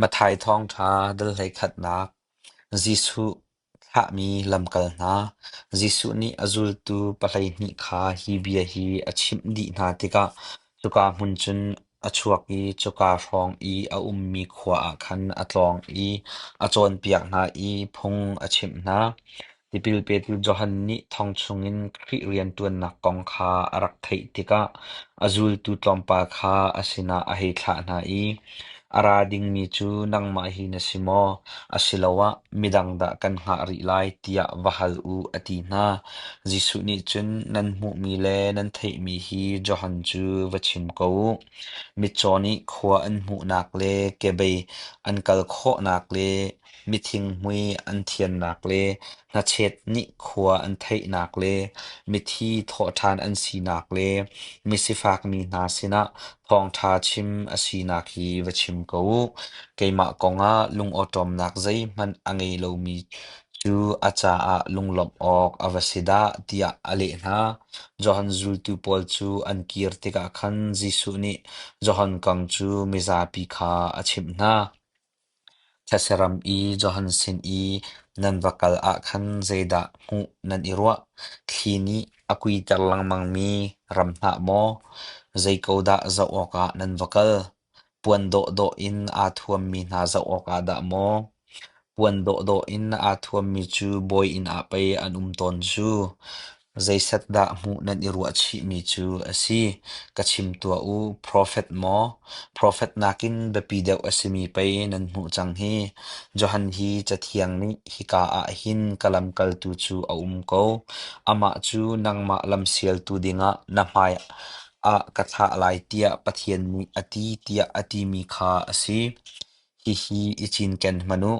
Matthai Thawngṭha dal hleikhatnak Jesuh thlahmi lamkal hna Jesuh nih a zultu pa hleihnih kha hi bia hi a chimh dih hna tikah cuka hmun cun a chuak i cuka hrawng i a ummi khua ah khan a tlawng i a cawnpiak hna i phung a chimh hna. Tipil petu Johan nih thong chungin Khrih rianṭuannak kong kha a rak theih tikah a zultu tlawmpal kha a sinah a hei thlah hna i, A ra dingmi cu nangmah hi na si maw, asiloah midang dah kan hngah rih lai tiah va hal u, a ti hna. Jesuh nih cun nan hmuhmi le nan theihmi hi Johan cu va chim ko u. Mitcaw nih khua an hmuhnak le kebei an kal khawhnak le Mithinghmui an thiannak le hnachet nih khua an theihnak le mithi thawhṭhan an sinak le misifakmi hna sinah thawngṭha chim a sinak hi va chim ko u. Keimah kongah lungawṭawmnak zeihmanh a ngei lomi cu a caah lunglawmh awk a va si dah tiah a leh hna. Johan zultu pawl cu an kir tikah khan Jesuh nih Johan kong cu mizapi kha a chimh hna. Thlachiram i Johan sin i nan va kal ah khan zeidah hmuh nan i ruah? Thli nih a kuiter lengmangmi ram hlah maw? Zei ko dah zoh awkah nan va kal? Puan dawhdawh in aa thuammi hna zoh awkah dah maw? Puan dawhdawh in aa thuammi cu bawi inn ah pei an um tawn cu. Zeizat dah hmuh nan i ruah chihmi cu a si? Ka chim tuah u. Profet maw? Profet nakin biapi deuh a simi pei nan hmuh cang hi. Johan hi Cathiang nih hika ah hin ka lamkaltu cu a um ko. Amah cu nangmah lamsialtu dingah na hmaiah ka thlah lai tiah Pathian nih a ti tiah a timi kha a si. Hihi i cinken hmanh u,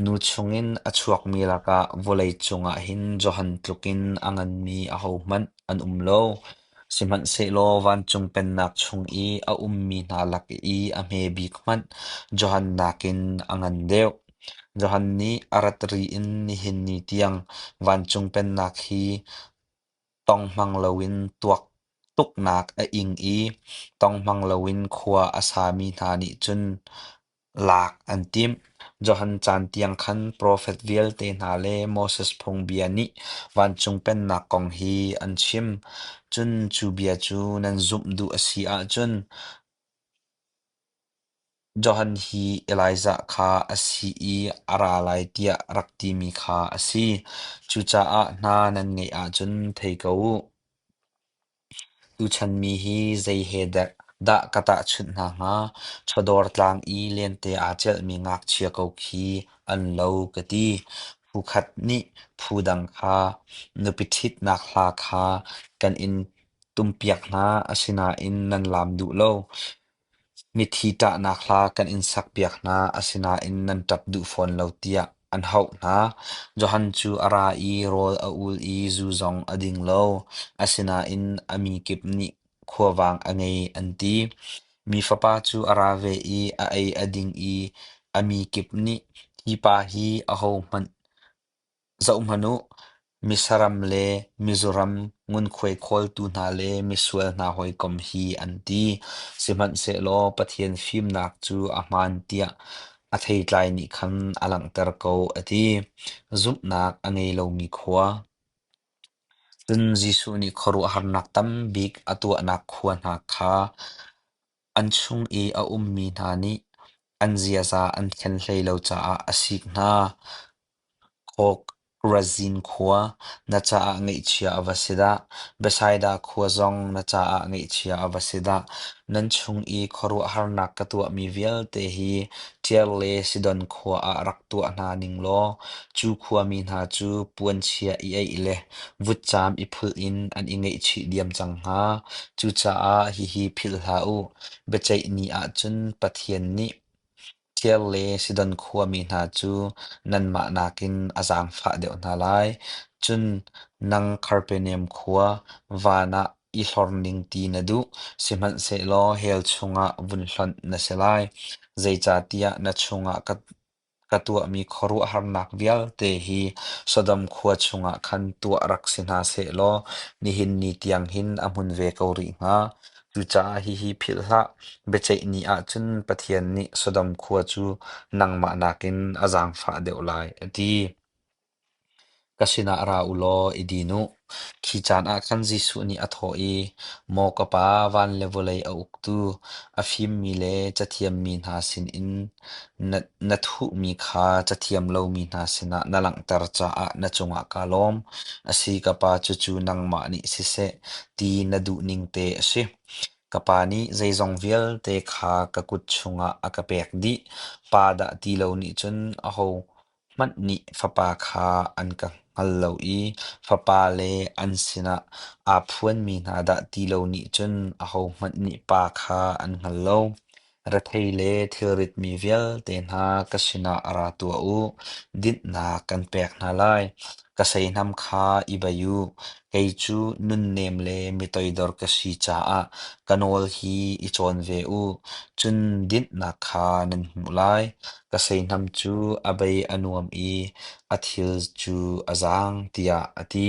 nu chungin a chuakmi lakah vawlei cungah hin Johan tlukin a nganmi ahohmanh an um lo. Sihmanhsehlaw vancung pennak chung i a ummi hna lak i a hmebik hmanh Johan nakin a ngan deuh. Johan nih a rat ri in nihin ni tiang vancung pennak hi Tonghmang loin tuak tuknak a ing i tonghmang loin khua a sami hna nih cun lak an timh. Johan caan tiang khan profet vialte hna le Moses Phungbia nih vancung pennak kong hi an chim. Cun cu bia cu nan zumh duh a si ahcun Johan hi Elijah kha a si i a ra lai tiah rak timi kha a si. Cucaah hna nan ngeih ahcun thei ko u. Tuchan mi hi zei he dah ka tahchunh hna hnga? Chawdawr tlang i lente aa celhmi ngakchia ko khi an lo ka ti. Phu khat nih phu dang kha nupi ṭhitnak hla kha kan in tumpiak hna, asinain nan laam duh lo. Mithi ṭahnak hla kan in sakpiak hna, asinain nan ṭap duh fawn lo tiah an hauh hna. Johan cu a ra i rawl a ul i zu zong a ding lo, asinain a mi kip nih khuavang a ngei an ti. Mi fapa cu a ra ve i a ei a ding i a mi kip nih, Hi pa hi ahohmanh Zoh hmanh u, misaram le mizuram ngunkhuai khawltu hna le misual hna hawikom hi an ti, sihmanhsehlaw Pathian fimnak cu a hmaan tiah a theitlai nih khan a langhter ko, a ti. Zumhnak a ngei lomi khua Cun Jesuh nih khuaruahharnak tam bik a tuahnak khua hna kha An chung i a ummi hna nih an ziaza an khen hlei lo caah a sik hna. Khawk-Razin khua na caah ngeihchia a va si dah. Bethsaida khua zong na caah ngeihchia a va si dah. Nan chung i khuaruahharnak ka tuahmi vialte hi Tir le Sidon khua ah rak tuah hna ning law cu khuami hna cu puanchia i eih le vutcaam i phulh in an i ngeihchih diam cang hna. Cucaah hihi philh hlah u, biaceih ni ahcun Pathian nih thir le Sidon khuami hna cu nanmah nakin a zaangfah deuh hna lai. Cun nang Karpeneam khua, van ah i hlor ning ti na duh, sihmanhsehlaw hell chungah vun hlonh na si lai, zeicahtiah na chungah ka Ka tuahmi khuaruahharnak vialte hi Sodom khua chungah khan tuah rak si hna seh law nihin ni tiang hin a hmun ve ko rih hnga. Cucaah hihi philh hlah, biaceih ni ah cun Pathian nih Sodom khua cu nangmah nakin a zaangfah deuh lai, a ti. Ka sinah ra u law i din u. Khi caan ah khan Jesuh nih a thawh i, “Maw ka Pa, van le vawlei a uktu, a fimmi le cathiammi hna sinin na thuhmi kha cathiam lomi hna sinah na langhter caah na cungah kaa lawm. A si, ka Pa, cucu nangmah nih siseh ti na duhning te a si. Ka Pa nih zeizong vialte kha ka kut chungah a ka pek dih. Pa dah ti lo nih cun aho Hmanh nih fapa kha an ka hngal lo i fapa le an sinah aa phuanmi hna dah ti lo nih cun ahohmanh nih pa kha an hngal lo. Rethei le thilritmi vialte hna ka sinah ra tuah u. Dinhnak kan pek hna lai. Ka seihnam kha i bei u. Kei cu nunnem le mitoidor ka si caah ka nawl hi i cawn ve u, cun dinhnak kha nan hmuh lai. Ka seihnam cu a bei a nuam i a thil cu a zaang, tiah a ti.